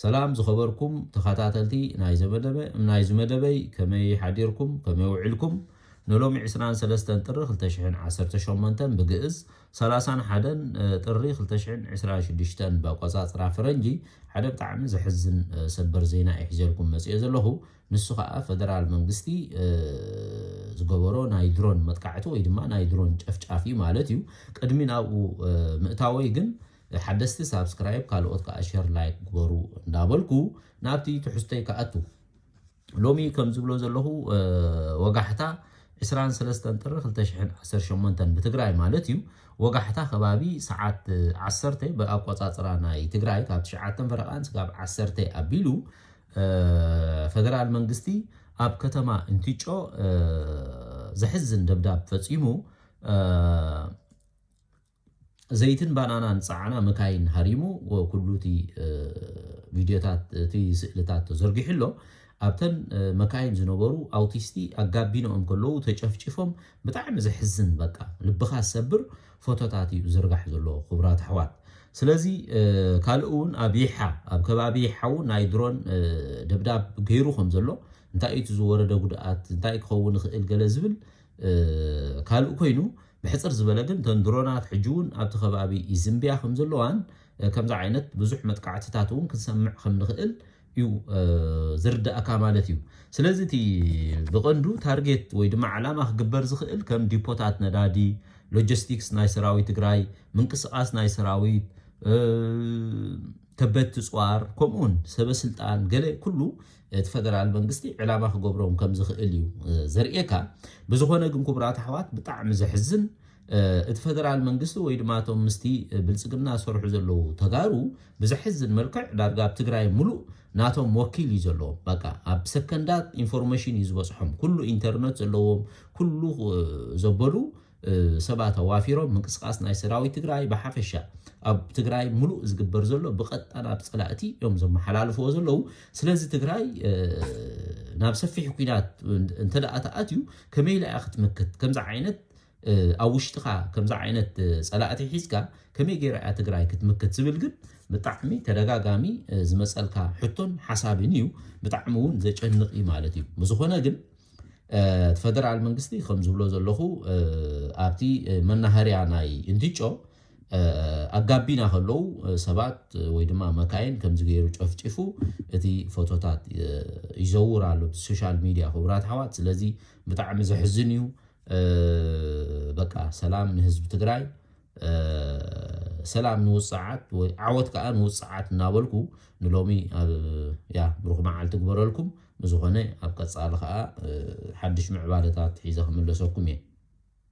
ሰላም ዝኸበርኩም ተኸታተልቲ ናይዘ መደበ ናይዚ መደበይ ከመይ ሓዲርኩም ከመይ ውዒልኩም ንሎሚ ዕስራን ሰለስተን ጥሪ ክልተ ሽሕን ዓሰርተ ሸሞንተን ብግእዝ ሰላሳን ሓደን ጥሪ ክልተ ሽሕን ዕስራን ሽዱሽተን በቆጻጽራ ፈረንጂ ሓደ ብጣዕሚ ዘሕዝን ሰበር ዜና እየ ሒዘልኩም መጽኦ ዘለኹ ንሱ ከዓ ፈደራል መንግስቲ ዝገበሮ ናይ ድሮን መጥቃዕቲ ወይ ድማ ናይ ድሮን ጨፍጫፍ እዩ ማለት እዩ ቅድሚ ናብኡ ምእታወይ ግን ሓደስቲ ሳብስክራይብ ካልኦት ከኣ ሸር ላይክ ግበሩ እንዳበልኩ ናብቲ ትሕዝቶይ ክኣቱ ሎሚ ከም ዝብሎ ዘለኹ ወጋሕታ ዕስራን ሰለስተን ጥሪ ክልተ ሽሕን ዓሰርተ ሸሞንተን ብትግራይ ማለት እዩ ወጋሕታ ከባቢ ሰዓት ዓሰርተ ብኣቆጻጽራ ናይ ትግራይ ካብ ትሽዓተን ፈረቓን ስጋብ ዓሰርተ ኣቢሉ ፈደራል መንግስቲ ኣብ ከተማ እንትጮ ዘሕዝን ደብዳብ ፈጺሙ ዘይትን ባናናን ጸዓና መካይን ሃሪሙ ኩሉ እቲ ቪድዮታት እቲ ስእልታት ተዘርጊሑ ኣሎ። ኣብተን መካይን ዝነበሩ ኣውቲስቲ ኣብ ጋቢንኦም ከለዉ ተጨፍጪፎም ብጣዕሚ ዘሕዝን በቃ ልብኻ ዝሰብር ፎቶታት እዩ ዝዝርጋሕ ዘሎ ክቡራት ኣሕዋት። ስለዚ ካልእ እውን ኣብ ይሓ ኣብ ከባቢ ይሓ እውን ናይ ድሮን ደብዳብ ገይሩ ከም ዘሎ እንታይ እዩ እቲ ዝወረደ ጉድኣት እንታይ ክኸውን ይኽእል ገለ ዝብል ካልእ ኮይኑ ብሕጽር ዝበለ ግን እተን ድሮናት ሕጂ'ውን ኣብቲ ከባቢ ይዝንብያ ከምዘለዋን ከምዚ ዓይነት ብዙሕ መጥቃዕትታት'ውን ክንሰምዕ ከምንኽእል እዩ ዝርደኣካ ማለት እዩ። ስለዚ እቲ ብቐንዱ ታርጌት ወይ ድማ ዕላማ ክግበር ዝኽእል ከም ዲፖታት ነዳዲ፣ ሎጀስቲክስ ናይ ሰራዊት ትግራይ፣ ምንቅስቓስ ናይ ሰራዊት፣ ከበድቲ ጽዋር ከምኡውን ሰበስልጣን ገለ ኩሉ እቲ ፈደራል መንግስቲ ዕላማ ክገብሮም ከም ዝኽእል እዩ ዘርእየካ። ብዝኾነ ግን ክቡራት ኣሕዋት ብጣዕሚ ዘሕዝን እቲ ፈደራል መንግስቲ ወይ ድማ እቶም ምስቲ ብልጽግና ዝሰርሑ ዘለዉ ተጋሩ ብዘሕዝን መልክዕ ዳርጋ ኣብ ትግራይ ሙሉእ ናቶም ወኪል እዩ ዘለዎም። በቃ ኣብ ሰከንዳት ኢንፎርሜሽን እዩ ዝበጽሖም። ኩሉ ኢንተርነት ዘለዎም ኩሉ ዘበሉ ሰባት ኣዋፊሮም ምንቅስቃስ ናይ ሰራዊት ትግራይ ብሓፈሻ ኣብ ትግራይ ሙሉእ ዝግበር ዘሎ ብቀጥታ ናብ ፀላእቲ እዮም ዘመሓላልፍዎ ዘለው ስለዚ ትግራይ ናብ ሰፊሕ ኩናት እንተደኣ ተኣትዩ ከመይ ኢላ እያ ክትምክት ከምዚ ዓይነት ኣብ ውሽጥኻ ከምዚ ዓይነት ፀላእቲ ሒዝካ ከመይ ገይራ እያ ትግራይ ክትምክት ዝብል ግን ብጣዕሚ ተደጋጋሚ ዝመፀልካ ሕቶን ሓሳብን እዩ ብጣዕሚ እውን ዘጨንቕ እዩ ማለት እዩ ብዝኾነ ግን ፈደራል መንግስቲ ከም ዝብሎ ዘለኹ ኣብቲ መናሃርያ ናይ እንትጮ ኣብ ጋቢና ከለዉ ሰባት ወይ ድማ መካይን ከምዚ ገይሩ ጨፍጪፉ እቲ ፎቶታት ይዘውር ኣሎ ሶሻል ሚድያ ክቡራት ኣሕዋት ስለዚ ብጣዕሚ ዘሕዝን እዩ በቃ ሰላም ንህዝቢ ትግራይ ሰላም ንውፅዓት ወይ ዓወት ከዓ ንውፅዓት እናበልኩ ንሎሚ ኣብ ያ ብሩኽ መዓልቲ ግበረልኩም ብዝኾነ ኣብ ቀፃሊ ከዓ ሓድሽ ምዕባለታት ሒዘ ክምለሰኩም እየ